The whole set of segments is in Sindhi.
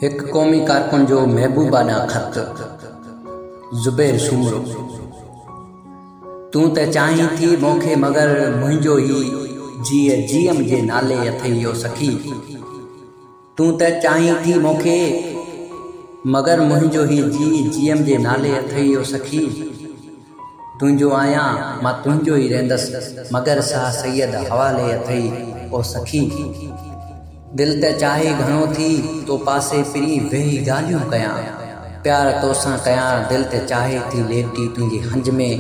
هڪ قومي ڪارڪن جو محبوبا ڏانهن خط، زبير سومرو، تون ته چاهين ٿي مون کي مگر منهنجو هي جيء جيئم جي نالي اٿئي يو سخي تون ته چاهين ٿي مون کي مگر منهنجو هي جيء جيئم جي نالي اٿئي يو سخي. تنهنجو آهيان، مان تنهنجو ئي رهندس. مگر ساهه سيد حوالي اٿئي، او سخي! دل ته چاهي گهڻو ٿي تو پاسي پرين ويهي ڳالهيون ڪيان. پيار توسان ڪيان، دل ته چاهي ٿي ليٽي تنهنجي هنج ۾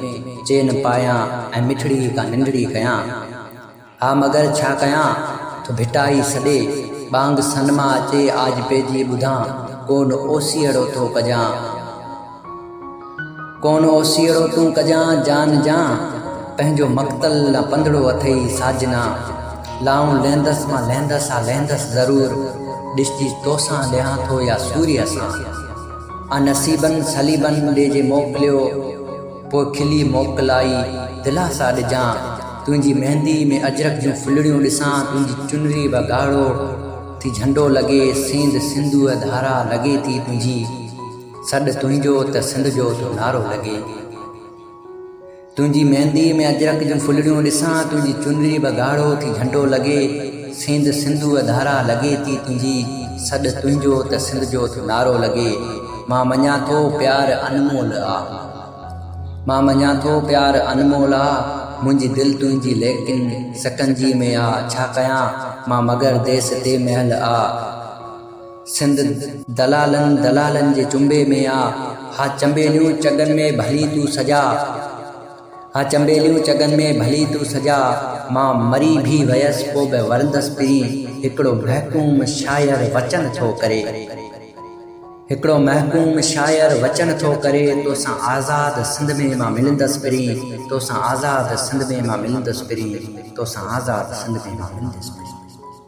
چين پايان ۽ مٺڙي هڪا ننڊڙي ڪيان. ها مگر ڇا ڪيان، ٿو ڀٽائي سڏي، ٻانگ سن مان اچي آج پئجي ٻڌان، ڪون اوسيئڙو ٿو ڪجان، ڪون اوسيئڙو تون ڪجان، جان جان، پنهنجو مقتل نه پنڌڙو اٿئي ساجنا، لائون لهندس مان لهندس ها لهندس ضرور، ڏسجي توسان لهان ٿو يا سوريء سان، آ نصيبن صليبن ڏي جي موڪليو، پوء کلي موڪلائي دلاسا ڏجان، تنهنجي مهندي ۾ اجرڪ جون ڦلڙيون ڏسان، تنهنجي چنري به ڳاڙهو ٿي جهنڊو لڳي، سينڌ سنڌوء ڌارا لڳي ٿي تنهنجي، سڏ تنهنجو ته سنڌ جو ٿو نعرو لڳي. تنهنجي مهندي ۾ اجرڪ جون ڦلڙيون ڏسان، تنهنجي چنري به ڳاڙهو ٿي جهنڊو لڳي، سينڌ سنڌوء ڌارا لڳي ٿي تنهنجي، سڏ تنهنجو ته سنڌ جو ٿو نعرو لڳي. مان مڃان ٿو پيار انمول آ. مان مڃان ٿو پيار انمول آ، منهنجي دل تنهنجي ليڪن سڪنجي ۾ آ، ڇا ڪيان مان مگر ديس تي محل آ، سنڌ دلالن دلالن جي چنبي ۾ آ، ها چنبيليون چڳن ۾ ڀلي تون سجاء، ها چنبيليون چڳن ۾ ڀلي تون سجاء، مان مري ڀي ويس پو به ورندس پرين، هڪڙو محڪوم شاعر وچن ٿو ڪري. هڪڙو محڪوم شاعر وچن ٿو ڪري توسان آزاد سنڌ ۾ مان ملندس پرين توسان آزاد سنڌ ۾ مان ملندس پرين توسان آزاد سنڌ ۾ مان ملندس پرين.